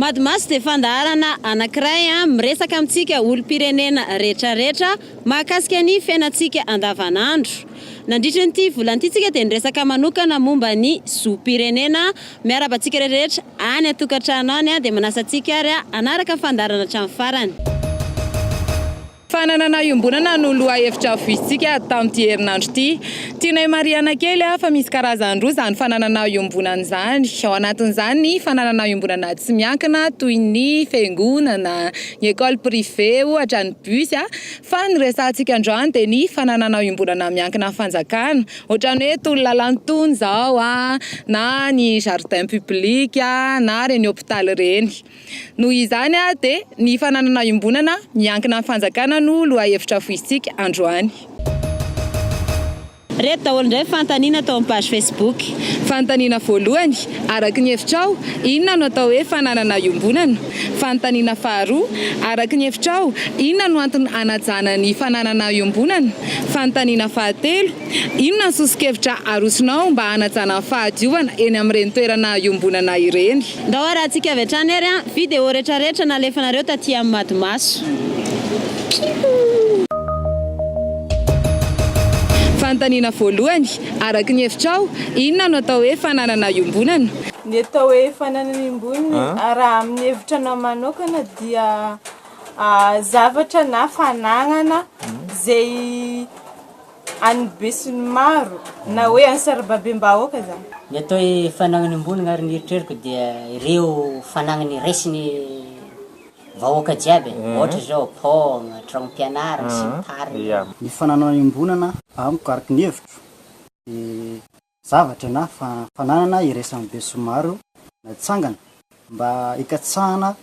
Madmas dia fandaharana anankiray miresaka amintsika olom-pirenena rehetrarehetra mahakasika ny fiainantsika andavanandro. Nandritry ny ity volana ity isika dia niresaka manokana momba ny zom-pirenena Miarahaba antsika rehetra any an-tokantrano any dia manasa antsika ary hanaraka ny fandaharana hatramin'ny farany. Fananana iombonana no lohahevitra havoisintsika tamin'ity herinandro ity. Tianay marihana kely fa misy karazany roa izany fananana iombonana izany. Ao anatin'izany ny fananana iombonana tsy miankina toy ny fiangonana, ny école privée ohatra, ny bus fa ny resahantsika androany dia ny fananana iombonana miankina amin'ny fanjakana. Ohatran'ny hoe tony lalàna tony zao a, na ny jardin public a, na reny hôpitaly reny. Noho izany de ny fananana iombonana miankina amin'ny fanjakana no lohahevitra foisintsika androany. Reto daholo indray fanontaniana tao amin'ny page Facebook. Fanontaniana voalohany, araka ny hevitrao, inona no atao hoe fananana iombonana? Fanontaniana faharoa, Araka ny hevitrao, inona no antony hanajana ny fananana iombonana? Fanontaniana fahatelo, Inona ny soso-kevitra arosonao mba hanajana ny fahadiovana eny amin'ireny toerana iombonana ireny? Ndao harahantsika avy hatrany ary an! Video retraretra nalefanareo taty amin'ny Madimaso. Fanontaniana voalohany, Araka ny hevitrao, inona no atao hoe fananana iombonana? Ny atao hoe fananana emboniny raha amin'ny hevitra anao manokana dia zavatra na fananana izay an'ny besinimaro na hoe an'ny sarababem-bahoaka izany. Ny atao hoe fananana emboniny ary ny eritreriko dia ireo fananana iraisin'ny vahoaka jiaby e, ohatra izao pont, tranom-pianarana sy ny tariny. Ny fananana embonana amiko araka ny hevitro dia. zavatra na fananana iraisany be sy maro natsangana mba hikatsahana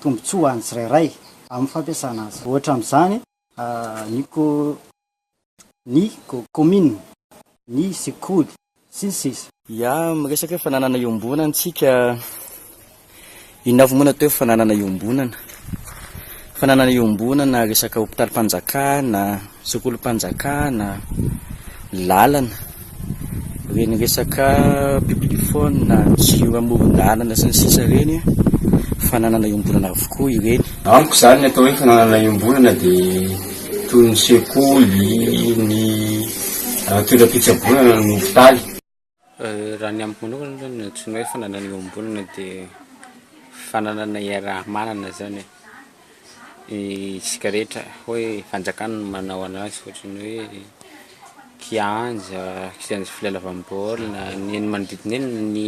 tombontsoa ho an'ny tsirairay amin'ny fampiasana azy. Ohatra amin'izany ny ko, ny kaominina, ny sekoly, sy ny sisa. Ya, miresaka hoe fananana iombonantsika Inona avy moa no atao hoe fananana iombonana? Fananana iombonana, resaka hopitalim-panjakana, sekolim-panjakana, lalana, ireny resaka publiphone, jiro amoron-dalana sy ny sisa ireny, fananana iombonana avokoa ireny. Amiko izany ny atao hoe fananana iombonana dia toy ny sekoly, ny toeram-pitsaboana na ny hopitaly. Raha ny amiko manokana aloha ny antsoina hoe fananana iombonana dia fananana iaraha-manana zany e, isika rehetra hoe fanjakana no manao anazy ohatran'ny hoe kianja, kianja filalaovam-baolina, ny eny manodidina eny ny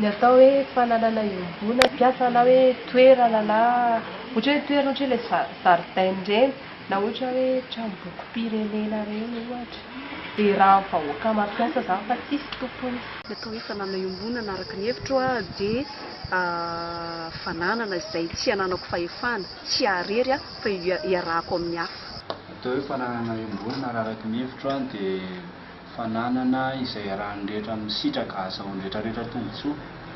Ny atao hoe fananana iombona mpiasa na hoe toerana na ohatra hoe toerana ohatra hoe ilay za- zaridaina ireny na ohatra hoe tranombokim-pirenena ireny ohatra, dia raha vahoaka mampiasa izany fa tsisy tompony. Ny atao hoe fananana iombonana araka ny hevitro aho dia fananana izay tsy ananako fahefana, tsy ahy irery aho fa iarahako amin'ny hafa. Ny atao hoe fananana iombonana raha araka ny hevitro aho dia. Fananana izay iarahan'ny rehetra amin'ny sitraka hahazahoan'ny rehetra rehetra tombontsoa.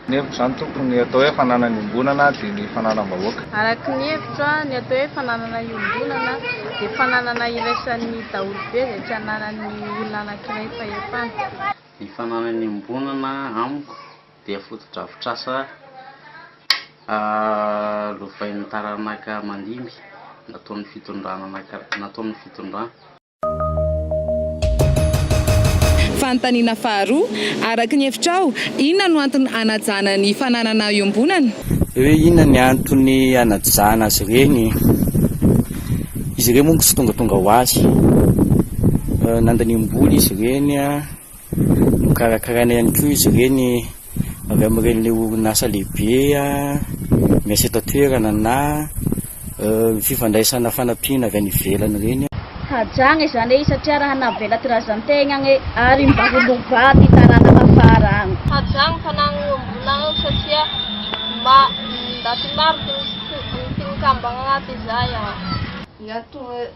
Ny hevitro izany tompoko, ny atao hoe fananana iombonana dia ny fananam-bahoaka. Araka ny hevitro aho, ny atao hoe fananana iombonana dia fananana iraisan'ny daholobe izay tsy ananan'ny olona anankiray fahefana. Ny fananana iombonana amiko dia fotodrafitrasa lovain'ny taranaka mandimby nataon'ny fitondrana nataon'ny fitondrana. Fanontaniana faharoa, Araka ny hevitrao, inona no antony hanajana ny fananana iombonana? Ve hoe inona ny antony hanajana azy ireny? Izy ireny moa tsy tongatonga ho azy. Nandaniam-bola izy ireny. Nokarakaraina ihany koa izy ireny avy amin'ireny le orinasa lehibe miasa eto an-toerana na fifandraisana fanampiana avy any ivelany ireny. Hajagna izany e satria raha navela ty razantegnagn e ary mba ho lovà ty taranaka afara agny. Hajagna fanagnagna mbola ao satria mba ndaty maro ty misy ty mikambagna agnaty izay an.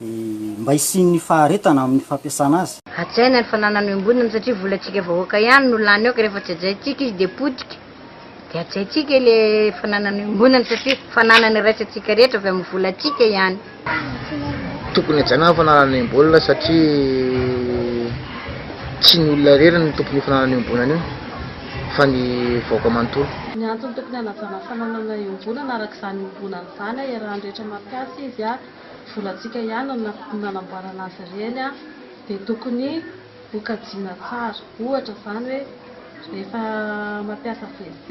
mba hisian'ny faharetana amin'ny fampiasana azy. Hajaina ny fananany miombonana satria volantsika vahoaka ihany no lany ao ka rehefa tsy hajaintsika izy dia potika dia hajaintsika ilay fananany miombonana satria fananana iraisantsika rehetra avy amin'ny volantsika ihany. Tokony hajaina ny fananana miombonana satria tsy ny olona irery no tompon'io fananana miombonana io fa ny vahoaka manontolo. Ny antony tokony hanajana fananana iombonana araka izany iombonana izany iarahan'ny rehetra mampiasa izy. Volantsika ihany no nanamboarana azy ireny dia tokony ho kajiana tsara. Ohatra izany hoe rehefa mampiasa WC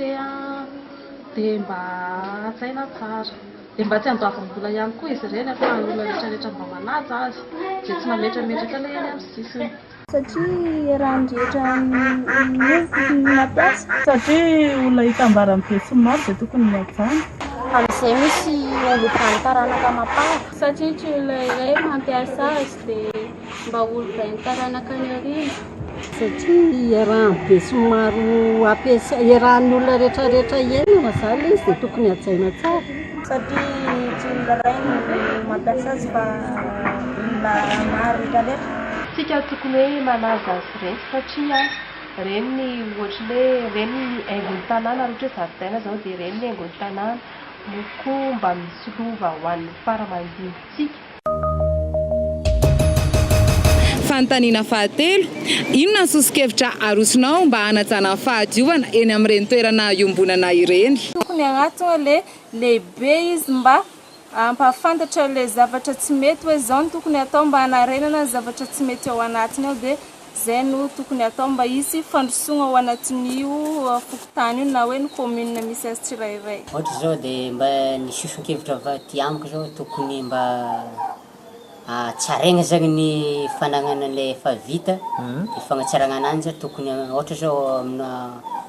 dia mba hajaina tsara. Dia mba tsy handoavam-bola ihany koa izy ireny ahafahan'ny olona rehetra rehetra mba manaja azy dia tsy mametrametraka ilay eny amin'ny sisiny. Satria raha ny rehetra miova ny mampiasa. Satria olona hitambara ny besinimaro dia tokony hihajana. Amin'izay misy olom-bany taranaka mampanga. Satria tsy olona iray mampiasa azy dia mba olom-bain'ny taranaka any aoriana. Satria iarahan'ny besinimaro hampiasa, iarahan'ny olona rehetra rehetra hiainana izany ilay izy dia tokony hajaina tsara. satria tsy olona iray no mampiasa azy fa olona maro rehetra rehetra. Tsika tokony hoe manaja azy reny satria reny ny ohatry ny hoe reny ny haingon'ny tanàna raha ohatra hoe zaridaina zao dia reny ny haingon'ny tanàna no koa mba misolova ho an'ny fara mandinitsika. Fanontaniana fahatelo, Inona ny soso-kevitra arosonao mba hanajana ny fahadiovana eny amin'ireny toerana iombonana ireny? Tokony hagnatona le lehibe izy mba hampahafantatra le zavatra tsy mety hoe zao no tokony hatao mba hanarenana ny zavatra tsy mety ao anatiny ao dia Izay no tokony hatao mba hisy fandrosoana ao anatin'io fokontany io na hoe ny commune misy azy tsirairay. Ohatra izao dia mba ny soson-kevitra avy aty amiko izao tokony mba hatsaraina zany ny fananana an'ilay efa vita, ny fanatsarana ananjy tokony ohatra izao amina.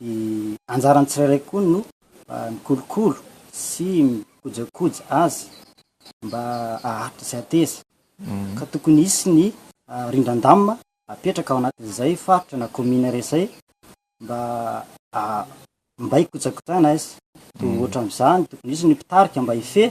Dia anjaran'ny tsirairay koa no mikolokolo sy mikojakoja azy mba haharitra sy hateza. Ka tokony hisy ny rindran-damina apetraka ao anatin'izay faritra na kaominina iray izay mba mba hikojakojana azy. Dia ohatra amin'izany tokony hisy ny mpitarika mba hifehy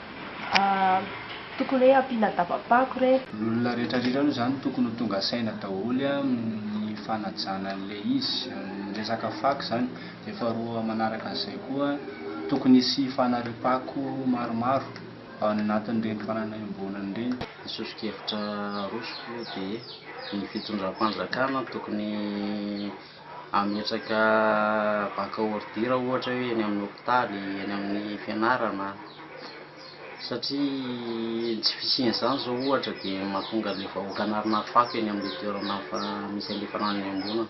Aah tokony hoe ampiana dabam-pako re. Ny olona rehetra rirany moa izany tokony ho tonga saina daholo amin'ny fanajana an'ilay izy, amin'ny resaka fako izany. Dia faharoa manaraka an'izay koa, tokony hisy fanariam-pako maromaro ao anatin'ireny tanàna iombonana ireny. Ny soso-kevitra arosoko dia ny fitondram-panjakana tokony. Hametraka banque ordure ohatra hoe eny amin'ny hopitaly, eny amin'ny fianarana satria ny tsy fisian'izany izao ohatra dia mahatonga ilay vahoaka an'arina fako eny amin'ilay toerana misy an'ilay fanangonana.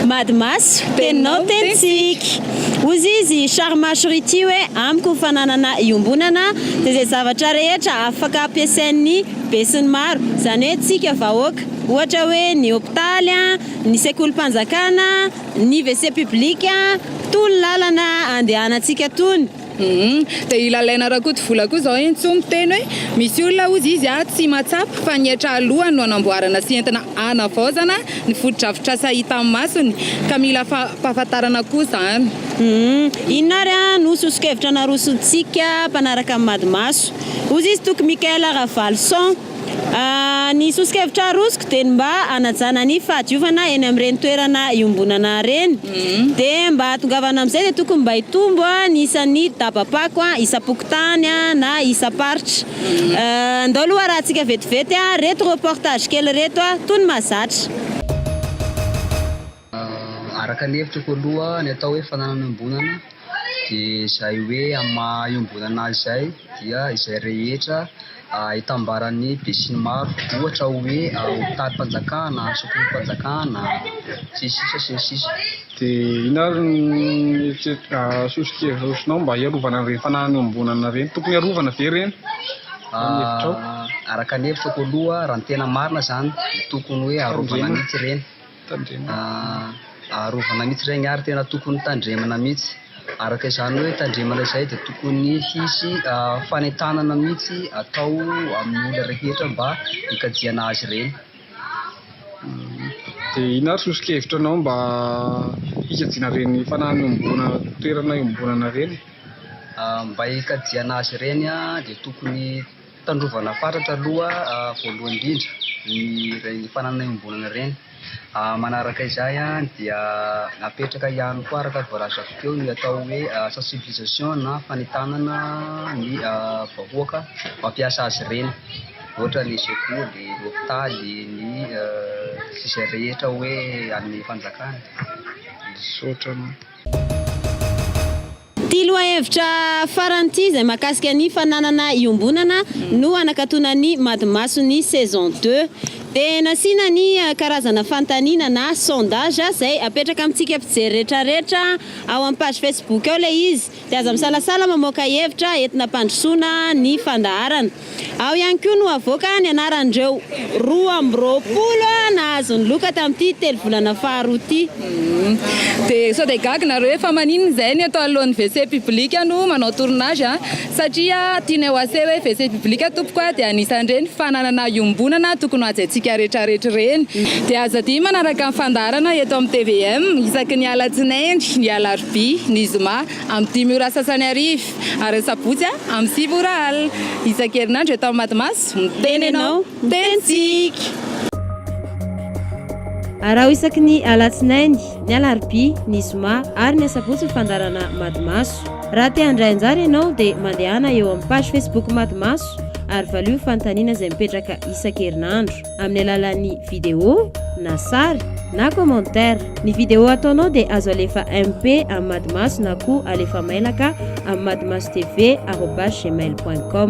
Mady maso, teninao tenintsika. Hozy izy Sharmash Riti hoe, Amiko ny fananana iombonana dia izay zavatra rehetra afaka ampiasain'ny besinimaro, izany hoe tsika vahoaka. Ohatra hoe ny hopitaly, ny sekolim-panjakana, ny WC public, itony lalana andehanantsika itony. Humm dia i Lalaina Rakotovola koa izao entso miteny hoe misy olona hozy izy a tsy mahatsapa fa ny hetra alohany no anamboarana sy entina anavaozana ny fotodrafitrasa hitan'ny masony ka mila fampahafantarana koa izany. Humm inona ary a no sosokevitra narosontsika mpanaraka ny Madimaso? hozy izy Toky Michael Ravaloson. Ny soso-kevitra arosoko dia ny mba hanajana ny fahadiovana eny amin'ireny toerana iombonana ireny. Dia mba hahatongavana amin'izay dia tokony mba hitombo ny isan'ny daba-pako isam-pokontany na isam-paritra. Andao aloha harahantsika vetivety ireto reportage kely ireto toy ny mahazatra. Araka ny hevitrako aloha ny atao hoe fananana iombonana dia izay hoe amin'ny maha iombonana azy izay dia izay rehetra itambaran'ny besinimaro ohatra hoe hotarim-panjakana, sotroinfpanjakana, sy ny sisa sy ny sisa. Dia inona ary ny sosokevitrinao mba hiarovana an'ireny fananana iombonana ireny? Tokony arovana ve ireny? Araka ny hevitrako aloha raha ny tena marina izany dia tokony hoe arovana mihitsy ireny. Tandremana arovana mihitsy regny ary tena tokony tandremana mihitsy. Araka izany hoe tandremana izay dia tokony hisy fanentanana mihitsy atao amin'ny olona rehetra mba hikajiana azy ireny. Dia ino ary soso-kevitra anao mba hikajiana ireny fanahy iombona toerana iombonana ireny? Mba hikajiana azy ireny dia tokony Tandrovana fatratra aloha voalohany indrindra ireny fananana iombonana ireny. Manaraka izay dia napetraka ihany koa araka ny voalazako teo ny atao hoe sensibilisation na fanentanana ny vahoaka mampiasa azy ireny, ohatra ny sekoly, ny hopitaly, ny izay rehetra hoe an'ny fanjakana. Misaotra anao. Ity lohahevitra farany ity izay mahakasika ny fananana iombonana no hanakatona ny Madimason'ny saison deux. Dia nasiana ny karazana fanontaniana na sondage izay apetraka amintsika mpijery retraretra ao amin'ny page Facebook ao ilay izy. Dia aza misalasala mamoaka hevitra entina hampandrosoana ny fandaharana. Ao ihany koa no havoaka ny anaran'ireo roa amby roapolo nahazo ny loka tamin'ity telovolana faharoa ity. Dia sao dia gaga nareo hoe fa maninona izay ny eto anoloan'ny WC public no manao tournage a? Satria tianay ho assez hoe WC public tompoko a, dia anisan'ireny fananana iombonana tokony hohajaintsika rehetrarehetra ireny. Dia aza adino manaraka ny fandaharana eto amin'ny tvm isaky ny alatsinainy, ny alarobia, ny zoma. Amin'ny dimy ora sasany hariva, ary ny sabotsy amin'ny sivy ora alina. Isan-kerinandro eto amin'ny Matimaso, miteny ianao, miteny tsika! Araho isaky ny alatsinainy, ny alarobia, ny zoma ary ny asabotsy ny fandaharana Matimaso. Raha te handray anjara ianao dia mandehana eo amin'ny page Facebook Matimaso ary valio ny fanontaniana izay mipetraka isan-kerinandro. amin'ny alalan'ny vidéo na sary na commentaire. Ny vidéo ataonao dia azo alefa MP amin'ny Madimaso na koa alefa mailaka amin'ny madimasotv arobase gmail point com.